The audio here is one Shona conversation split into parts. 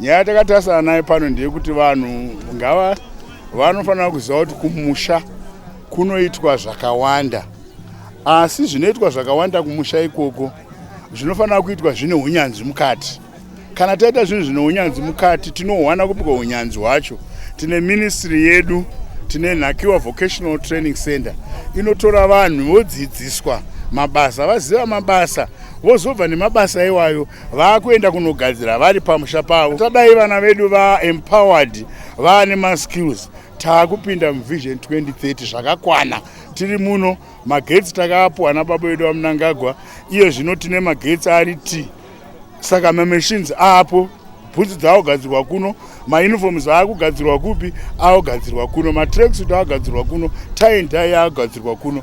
Nyaya yatakatasana nayo pano ndeyekuti vanhu ngava vanofanira kuziva kuti kumusha kunoitwa zvakawanda asi zvinoitwa zvakawanda kumusha ikoko zvinofanira kuitwa zvine unyanzvi mukati kana taita zvinhu zvine unyanzvi mukati tinohwana kupika unyanzvi hwacho tine ministry yedu tine nhakiwa vocational training center inotora vanhu vodzidziswa mabasa vaziva mabasa vozobva nemabasa iwayo vakuenda kunogadzira vari pamusha pavo tadai vana vedu vaempowered vaane maskills taakupinda muvision 2030 zvakakwana tiri muno magetsi takaapuwa nababa vedu vamunangagwa iye zvino tine magetsi ari t saka mamachines aapo bhutsu dzaogadzirwa kuno mauniforms aakugadzirwa kupi aogadzirwa kuno matracksuit aogadzirwa kuno tie and tie aogadzirwa kuno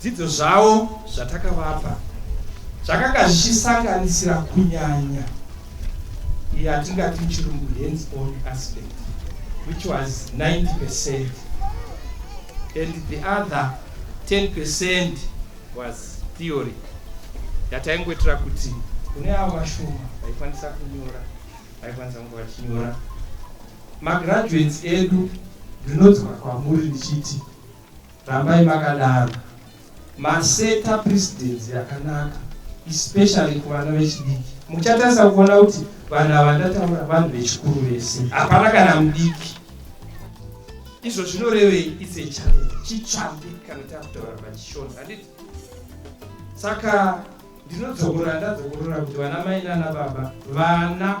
Dzidzo zvavo zvatakavapa zvakanga zvichisanganisira kunyanya yatingati muchirungu hands on aspect which was 90 percent and the other 10 percent was theory yataingoitira kuti kune avo vashoma vaikwanisa kunyora vaikwanisa kunge vachinyora magraduates edu ndinodzoka kwamuri ndichiti Rambai makadaro. Maseta precedence yakanaka especially kuvana vechidiki. Muchatarisa kuona kuti vanhu ava ndataura vanhu vechikuru vese. Hapana kana mudiki. Izvo zvinorevei it's a challenge. Chitsvambi kana takutaura pachishona. Handiti? Saka ndinodzokora ndadzokorora kuti vana mai nana baba vana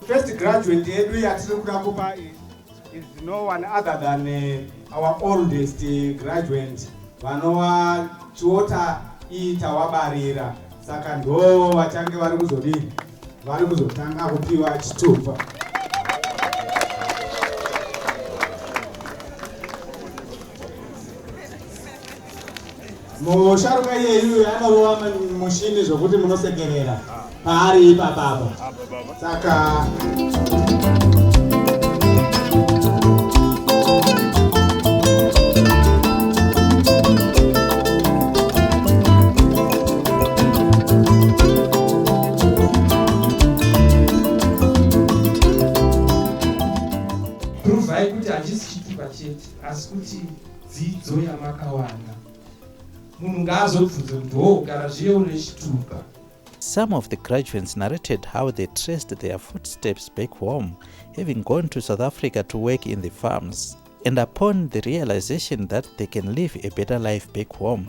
First graduate yedu yatiri kuda kupa is no one other than eh, our oldest eh, graduate vanova chiota iyi tawabarira saka ndo vachange vari kuzodii vari kuzotanga kupiwa chitupa Musharuka iyeyu anorova mushini zvokuti munosekerera paari ipapapa saka dzidzo yamakawana munhu ngaazobvunze kuti hoo gara zviye une chitupa Some of the graduates narrated how they traced their footsteps back home, having gone to South Africa to work in the farms, and upon the realization that they can live a better life back home.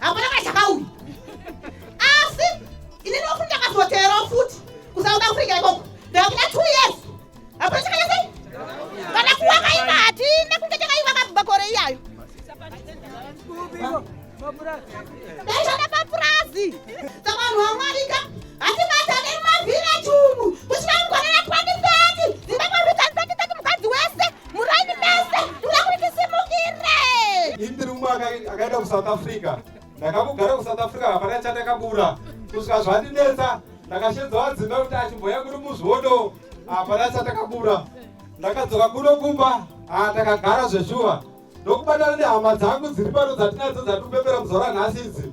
hakuna kachakauya asi inini wakuti ndakazoteerawo futi kusauda afrika ikoko ndakuda two years hakuna chakanyasei kana kuwaka iva hatina kunge takaiva kabva kore iyayo daishanda papurazi saka vanhu vamwarika hatibatane mumavhiraji umu kusvika mugore ra 2030 zimbabwe rutsanzati tati mukadzi wese muraini mese ndikuda kuti tisimukire ini ndiri mumwe akaenda kusouth africa ndakakugara kusouth africa hapana chandakabura kusvika zvandinetsa ndakashedza wadzimba kuti achimboya kuri muzvodo hapana chandakabura ndakadzoka kuno kumba haa ndakagara zveshuwa ndokubatana nehama dzangu dziri pano dzatinadzo dzatipembera muzora nhasi idzi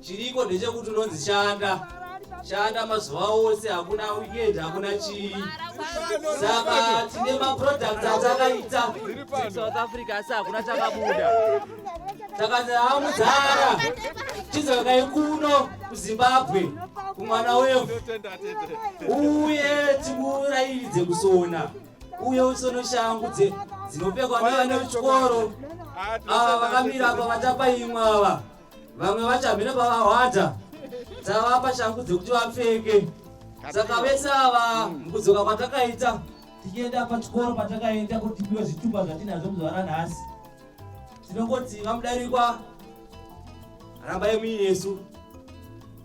chiriko ndechekuti unonzi shanda shanda mazuva ose hakuna weekend hakuna chii saka tine maproducts atakaita south africa asi hakuna takabuda takanzi hamudzara chidzokai kuno kuzimbabwe kumwana wevo uye tikurairidze kusona uye usono shangu dzinopfekwa nevana vechikoro ava vakamira apa vatapaimwa ava vamwe vachamhira pavahwata tavapa shangu dzekuti vapfeke saka vese ava mukudzoka kwatakaita tichienda pachikoro patakaenda kuti tipiwe zvitupa zvatinazvo muzuva ranhasi tinongoti vamudarikwa rambai muinesu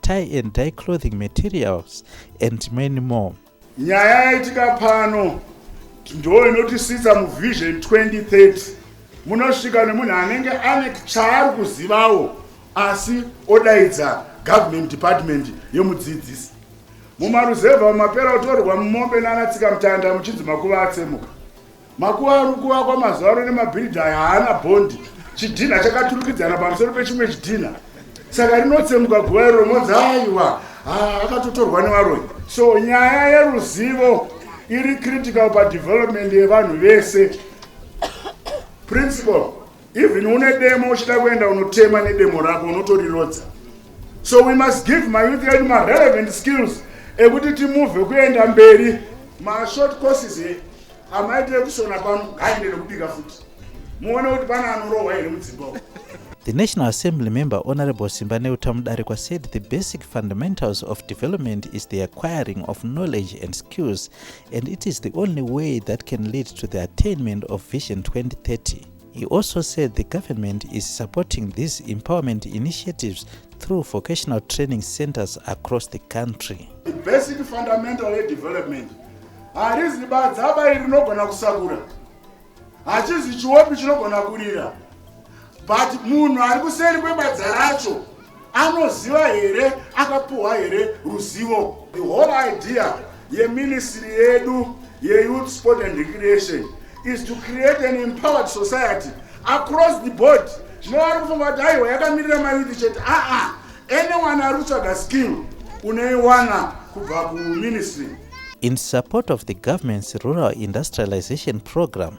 tie and die clothing materials and many more nyaya yaitika pano ndo inotisvitsa muvision 2030 munosvika nemunhu anenge ane chaari kuzivawo asi odaidza government department yemudzidzisi mumaruzevha mumapera kutorwa mumombe nanatsika mutanda muchinzi makuva atsemuka Makuva ari kuvakwa mazuva ano nemabhiridhi aya haana bhondi. Chidhinha chakaturikidzana pamusoro pechimwe chidhinha, saka rinotsemuka guva iro rinonzi aiwa ah, akatotorwa nevaroyi. So nyaya yeruzivo iri critical padevelopment yevanhu vese. Principal. even une demo uchida kuenda unotema nedemo rako unotorirodza so we must give mayouth yedu marelevant skills ekuti timuvhe kuenda mberi mashort courses e amaitire kusona pano ngaende nekubika futi muone kuti pana anorohwa here mudzimba uku The National Assembly member Honorable Simba Neutamudarikwa said the basic fundamentals of development is the acquiring of knowledge and skills and it is the only way that can lead to the attainment of Vision 2030. He also said the government is supporting these empowerment initiatives through vocational training centers across the country. The basic fundamental development harizi badza abai rinogona kusakura hachizi chiwopi chinogona kurira but munhu ari kuseri kwebadza racho anoziva here akapuhwa here ruzivo the whole idea yeministry yedu yeyouth sport and recreation is to create an empowered society across the board zvinova ari kufunga kuti aiwa yakamirira mayouth chete aa anyone ari kutsvaga skill unoiwana kubva kuministry In support of the government's rural industrialization program,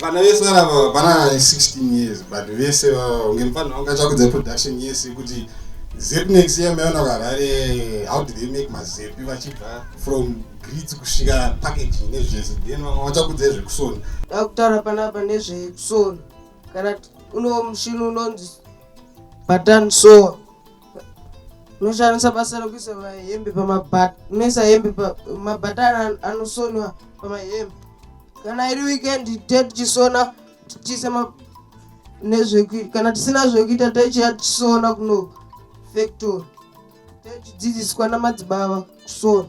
vana vese vana vana 16 years but vese unge mfanira unga chakudza production yese kuti zep next year maona kuharare how do they make mazepi vachibva from grits kusvika packaging nezvese then vamwe vachakudza zvekusona akutaura panapa nezvekusona kana uno mushini unonzi button soa unoshandisa basa rekuisa mahembe pamabhata unoisa hembe mabhata anosonwa pamahembe kana iri weekend te tichisona tichiisa nezvekuita kana tisina zvekuita taichiya tichisona kuno factory taichidzidziswa namadzibaba sorry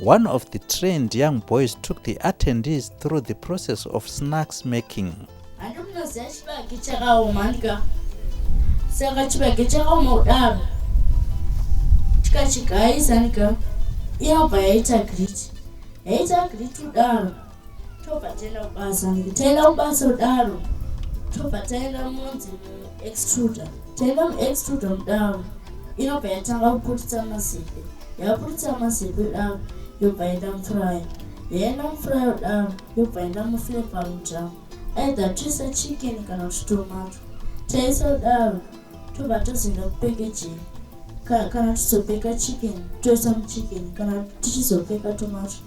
One of the trained young boys took the attendees through the process of snacks making. saka chibage chakaoma kudaro tikachigayisa nika iyabva yaita griti yaita griti kudaro tobva taenda kubasa taenda kubasa kudaro tobva taenda munzi muextruda taenda muextruda kudaro inobva yatanga kuputitsa mazepe yaputitsa mazepe kudaro yobva yaenda mufurayo yaenda mufurayo kudaro yobva yaenda muflepa mudhamu either tisa chicken kana kuti tomato taisa kudaro tobva tozoenda kupekejeni kana tizopeka chicken toisa muchicken kana tichizopeka tomato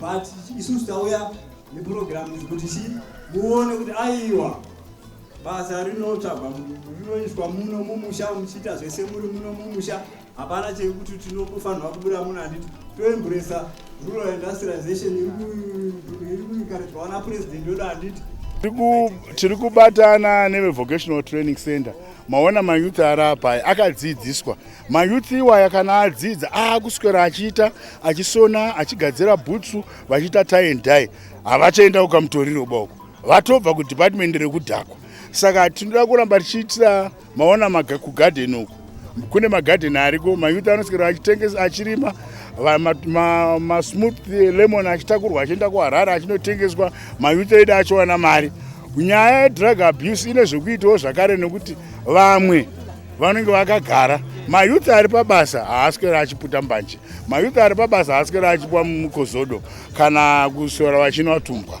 but isusu tauya nepurogiramu izi kuti chii muone kuti aiwa basa rinotsvagwa rinoiswa muno mumusha muchiita zvese muri muno mumusha hapana chekuti tinofanirwa kubuda muno handiti toemburesa rural industrialization iri kuikaridzwa wana purezidenti wedu handiti tiri kubatana nevevocational training center maona mayouth ari apa akadzidziswa mayouth iwaya kana adzidza aakuswera achiita achisona achigadzira bhutsu vachiita tie and die havachaenda kukamutoriro boko vatobva kudepartment rekudhakwa saka tinoda kuramba tichiitira maona maga kugarden uku kune magarden ariko mayouth anoswera achitengesa achirima masmooth lemon achitakurwa achienda kuharare achinotengeswa mayouth edu achiwana mari nyaya yedrug abuse ine zvekuitawo zvakare nekuti vamwe vanenge vakagara mayuti ari pabasa haaswere achiputa mbanje mayuti ari pabasa haaswere achipwa mukozodo kana kusora vachinwa tumbwa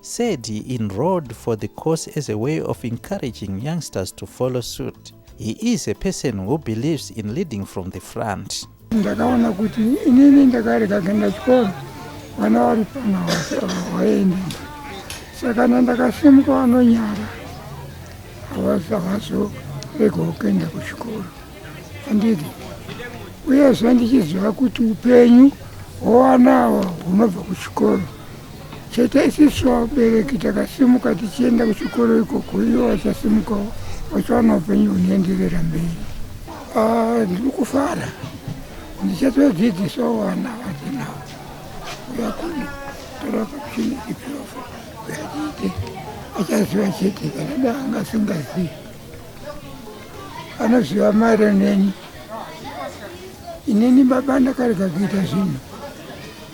said he enrolled for the course as a way of encouraging youngsters to follow suit. He is a person who believes in leading from the front. ndakaona kuti inini ndakarega kuenda chikoro vana vari pana vaende saka na ndakasimuka vanonyara havazi havazoregawo kuenda kuchikoro handiti uyezve ndichiziva kuti upenyu hwowanawa hunobva kuchikoro chete isisu vabereki takasimuka tichienda kuchikoro ikoko ivo vachasimukawo vachiwana upenyu hunoenderera mberi ah, ndiri kufara ndichatodzidzisawo vana vatinawo uya kuno torakakuchini ipirofa uyatiite achaziva chete kana da angasingazivi anoziva mairo neni inini baba ndakarega kuita zvinhu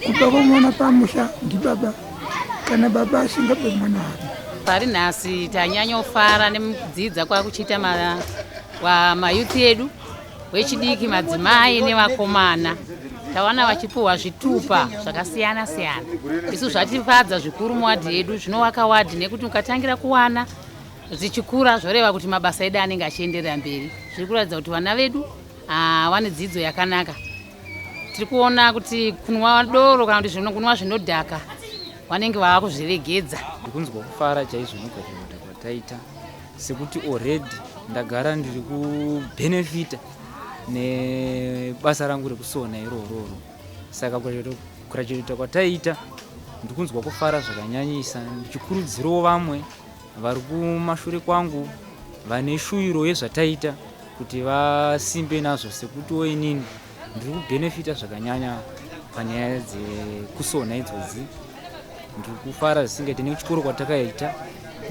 kubva kwamwana pamusha ndibaba kana baba asingabe mwana wake pari nhasi tanyanyofara nekudzidza kwakuchiita mayouth edu wechidiki madzimai nevakomana tawana vachipuhwa zvitupa zvakasiyana siyana isu zvatifadza zvikuru muwadhi yedu zvinovaka wadhi nekuti ukatangira kuwana zvichikura zvoreva kuti mabasa edu anenge achienderera mberi zviri kuratidza kuti vana vedu ah, vane dzidzo yakanaka tiri kuona kuti kunwa doro kana kuti zvino kunwa zvinodhaka vanenge vava kuzviregedza ndikunzwa kufara chaizvo nekuzvinota kwataita sekuti already ndagara ndiri kubhenefita nebasa rangu rekusona irororo saka kurachirita kwataita ndikunzwa kufara zvakanyanyisa ndichikurudzirawo vamwe Vari kumashure kwangu vane shuviro yezvataita kuti vasimbe nazvo sekutiwo inini ndiri kubhenefita zvakanyanya panyaya dzekusona idzodzi ndiri kufara zvisingaite nekuchikoro kwatakaita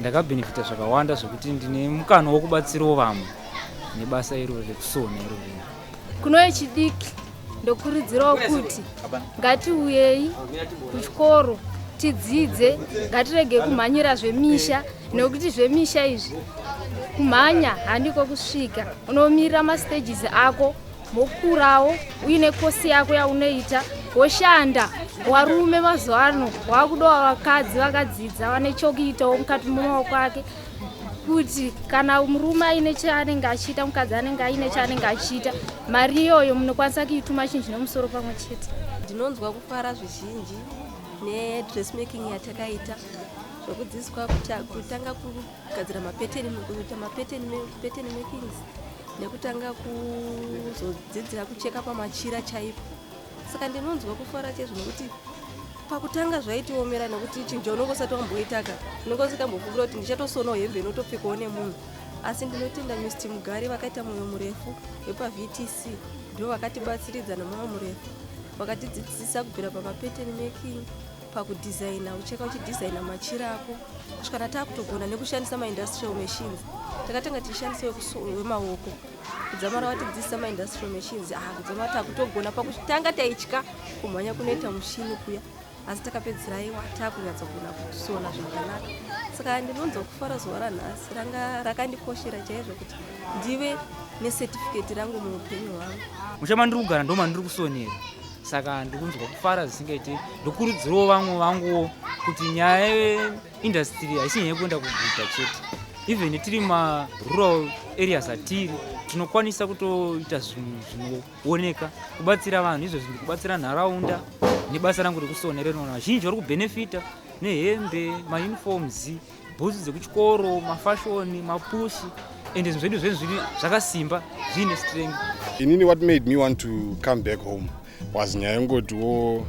ndakabhenefita zvakawanda zvekuti ndine mukana wokubatsirawo vamwe nebasa irori rekusona irori kuno vechidiki ndokurudzirawo kuti ngatiuyei kuchikoro tidzidze ngatirege kumhanyira zvemisha nekuti zvemisha izvi kumhanya handiko kusvika unomirira mastages ako mokurawo uine kosi yako yaunoita woshanda warume mazuva ano wakudawo vakadzi vakadzidza vane chokuitawo mukati memaoko ake kuti kana murume aine chaanenge achiita mukadzi anenge aine chaanenge achiita mari iyoyo munokwanisa kuituma chinhu chine musoro pamwe chete ndinonzwa kufara zvizhinji nedressmaking yatakaita zvekudzidziswa kutanga kugadzira mapeteni kuita mapeteni makings nekutanga kuzodzidzira kucheka pamachira chaipo saka ndinonzwa kufara chaizvo nokuti pakutanga zvaitiomera nokuti chinja unonge usati wamboitaka unonge usikambofungira kuti ndichatosonawo hembe inotopfekawo nemunhu asi ndinotenda mist mugari vakaita mwoyo murefu wepavtc ndo vakatibatsiridza nemwoyo murefu vakatidzidzisa kubvira pamapattern making pakudhizaina ucheka uchidhizaina machiri ako kusvikana taakutogona nekushandisa maindustrial machines takatanga tichishandisa wemaoko we kudzamara vatidzidzisa maindustrial machines ah kudzamara takutogona pakutanga taitya kumhanya kunoita mushini kuya asi takapedzera iwa takunyatsogona kusona zvakanaka saka ndinonzwa kufara zuva ranhasi ranga rakandikoshera chaizvo kuti ndive necertificate rangu muupenyu hwangu mushe mandiri kugara ndo mandiri kusonera saka ndikunzwa kufara zvisingaiti ndokurudzirawo vamwe vanguwo kuti nyaya industry haisi nyaya yekuenda kuguta chete even tiri marural areas atiri tinokwanisa kutoita zvinhu zvinooneka kubatsira vanhu izvo zvinhu kubatsira nharaunda nebasa rangu rekusona rinoona vazhinji vari kubhenefita nehembe mauniforms bhutsu dzekuchikoro mafashoni mapushi and zvinhu zvedu zvenhu zviri zvakasimba zviine strength inini what made me want to come back home was nyaya yongotiwo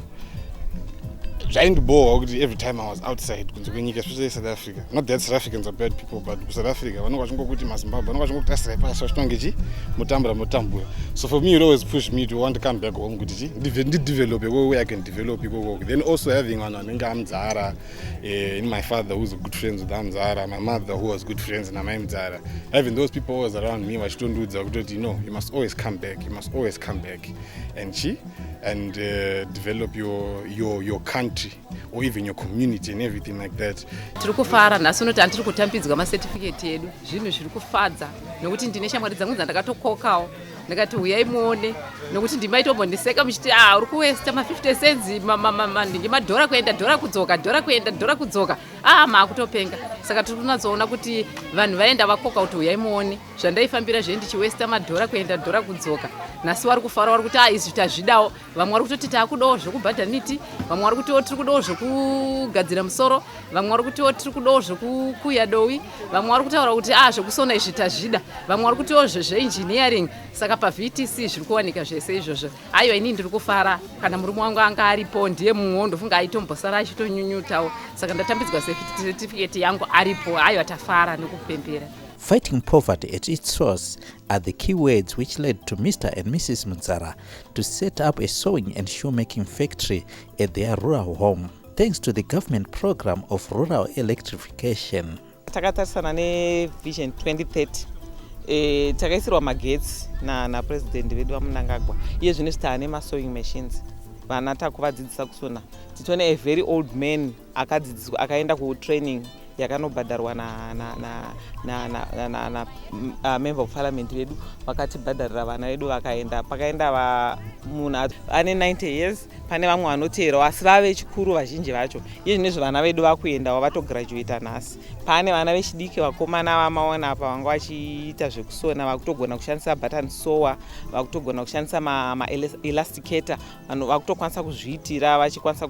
zvaindibhohwa kuti every time i was outside kunze kwenyika especially south africa not that south africans are bad people but kusouth africa vanonge vachingokuti mazimbabwe vanonge vachingokuti asirai pasi vachitonge chi motambura motambura so for me it always push me to want to come back home kuti chi ndidevelope ko way i can develop ikokoko then also having vanhu vanenge amudzara eh, in my father who's good friends with amudzara my mother who was good friends namai mudzara having those people always around me vachitondiudza kutoti no you must always come back you must always come back and chi and uh, develop your, your, your country or even your community and everything like that tiri kufara nhasi unoti handiri kutambidzwa macertificate edu zvinhu zviri kufadza nokuti ndine shamwari dzangu dzandakatokokawo ndikati huyai muone nokuti ndimaitombondiseka muchiti a ah, uri kuwesta ma50 cents ndinge madhora kuenda dhora kudzoka dhora kuenda dhora kudzoka a ah, maakutopenga saka tiri kunatsoona kuti vanhu vaenda vakoka kuti huyai muone zvandaifambira zve ndichiwesta madhora kuenda dhora kudzoka nhasi wari kufara wari kuti a ah, izvi tazvidawo vamwe wari kutoti taakudawo zvekubhadha miti vamwe wari kutiwo tiri kudawo zvekugadzira musoro vamwe wari kutiwo tiri kudawo zvekukuya dowi vamwe wari kutaura kuti a ah, zvekusona izvi tazvida vamwe wari kutiwo zvezveengineering saka pavtc zviri kuwanika zvese izvozvo aiwa inii ndiri kufara kana murume wangu anga aripo ndiye mumwewo ndofunga aitombosara achitonyunyutawo saka ndatambidzwa setifiketi yangu aripo aiwa tafara nekupembera Fighting poverty at its source are the key words which led to Mr. and Mrs. Mudzara to set up a sewing and shoemaking factory at their rural home, thanks to the government program of rural electrification. takatarisana nevision 2030 e, takaisirwa magetsi napresident na vedu vamunangagwa iye zvino zvitaane masewing machines vana takuvadzidzisa kusona titone a very old man akadzidziswa akaenda kutraining yakanobhadharwa namember of parliament vedu vakatibhadharira vana vedu vakaenda pakaenda munhu ane 90 years pane vamwe vanoteerawo asi vava vechikuru vazhinji vacho iye zvine zvevana vedu vakuendawo vatograduata nhasi pane vana vechidiki vakomana vamaona apa vanga vachiita zvekusona vakutogona kushandisa button sower vakutogona kushandisa maelasticata vanhu vakutokwanisa kuzviitira vachikwanisa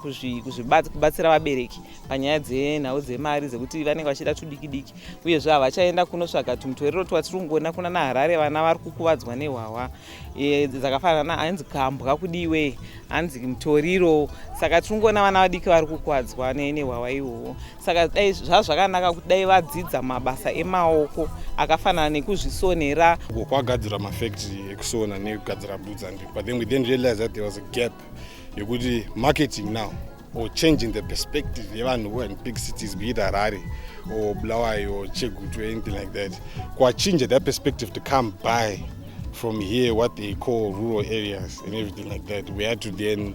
kubatsira vabereki panyaya dzenhau dzemari dzekuti vanenge vachida tudiki diki uyezve havachaenda kunotsvaga tumutwerero twatiri kungoona kuna naharare vana vari kukuvadzwa nehwahwa e, dzakafanana hanzi kambwa kudiwe hanzi mutoriro saka tiri kungoona vana vadiki vari kukuvadzwa nehwahwa ihwohwo saka dai zvazvakanaka kuti dai vadzidza mabasa emaoko akafanana nekuzvisonera uko kwagadzira mafactory ekusona nekugadzira boots and but then we then realize that there was a gap yekuti marketing now or changing the perspective yevanhu who in big cities be it harare or blawai or chegutu anything like that kwachinja that perspective to come by from here what they call rural areas and everything like that we had to then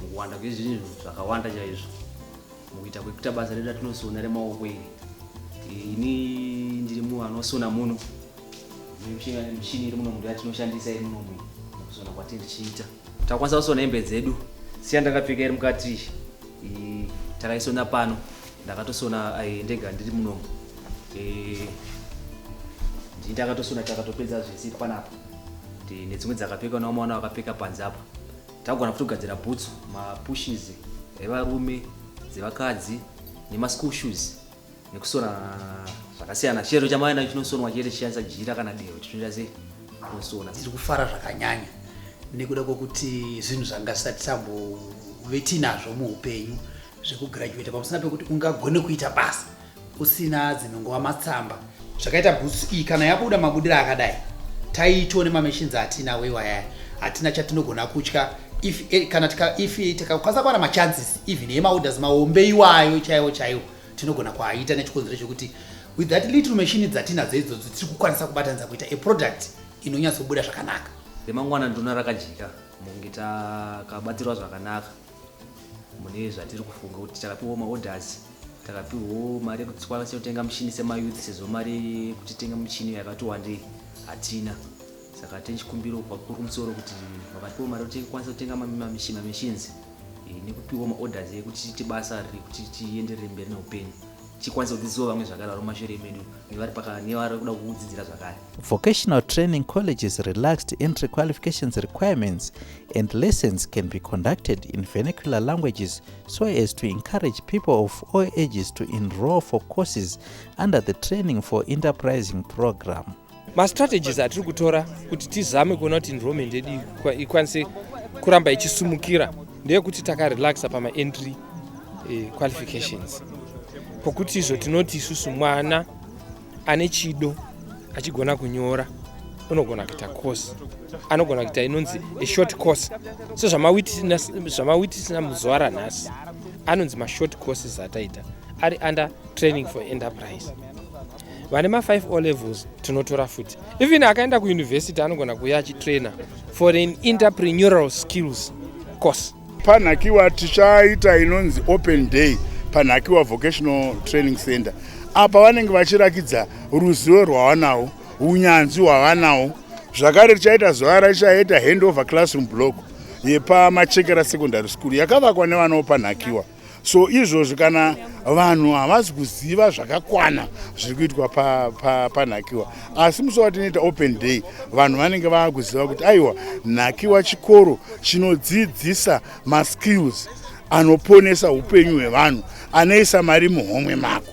mukuwanda kwezvinhu zvakawanda chaizvo mukuita kwekuita basa redu ratinosona remaoko iri ini ndiri munhu anosona muno mishini iri muno munhu yatinoshandisa iri muno munhu mukusona kwatiri tichiita takwanisa kusona hembe dzedu siya ndakapfeka iri mukati takaisona pano ndakatosona eh, ndega ndiri munomu eh, ndii ndakatosona takatopedza zvese panapa nedzimwe dzakapfeka nawo mwana wakapfeka panze apa Tagona futi kugadzira bhutsu, mapushes evarume, dzevakadzi nemaschool shoes nekusona zvakasiyana. Chero chamava nacho chinosonwa chete chishandisa jira kana dehwe chinoita sei tinosona. Tiri kufara zvakanyanya nekuda kwekuti zvinhu zvanga zvisati tambove tiinazvo muupenyu zvekugraduata pamusana pekuti ungagone kuita basa usina dzinongova matsamba zvakaita bhutsu iyi kana yabuda mabudira akadai taitone mamachines atina wewayaya hatina chatinogona kutya if eh, kana tika if tikakwanisa kuwana machances even yemaorders mahombe iwayo chaiwo chaiwo tinogona kuaita nechikonzero chekuti with that little machine dzatinadzo idzodzo tiri kukwanisa kubatanidza kuita a product inonyatsobuda zvakanaka remangwana ndona rakajika mungi takabatirwa zvakanaka mune zvatiri kufunga kuti takapiwa maorders takapiwawo mari yekuti tikwanise kutenga muchini semayouth sezvo mari yekuti tenga muchini yakati wandei hatina saka tine chikumbiro kwakuru kumusoro kuti vakatipiwa mari kuti tikwanise kutenga mamachines eh, nekupiwa maorders ekuti tiite basa rekuti tienderere mberi neupenyu chikwanise kudzidzisawo vamwe zvakare vari mumashure medu nevari paka nevari kuda kudzidzira zvakare vocational training colleges relaxed entry qualifications requirements and lessons can be conducted in vernacular languages so as to encourage people of all ages to enroll for courses under the training for enterprising program mastrategies atiri kutora kuti tizame kuona kuti enrollment yedu ikwanise kuramba ichisumukira ndeyekuti takarelaxa pamaentry eh, qualifications pokuti izvo tinoti isusu mwana ane chido achigona kunyora unogona kuita course anogona kuita inonzi a short course sezvamawitnessna muzuva ranhasi anonzi mashort courses ataita ari under training for enterprise vane ma5 o levels tinotora futi even akaenda kuuniversity anogona kuuya achitrainer for an interprenural skills course panhakiwa tichaita inonzi open day panhakiwa vocational training center apa vanenge vachirakidza ruzivo rwavanawo unyanzvi hwavanawo zvakare tichaita zuva raichaita handover classroom block yepamachekera secondary school yakavakwa nevanawo panhakiwa so izvozvi kana vanhu havasi kuziva zvakakwana zviri kuitwa panhakiwa pa, pa asi musi watinoita open day vanhu vanenge vava kuziva kuti aiwa nhakiwa chikoro chinodzidzisa maskills anoponesa upenyu hwevanhu anoisa mari muhomwe mako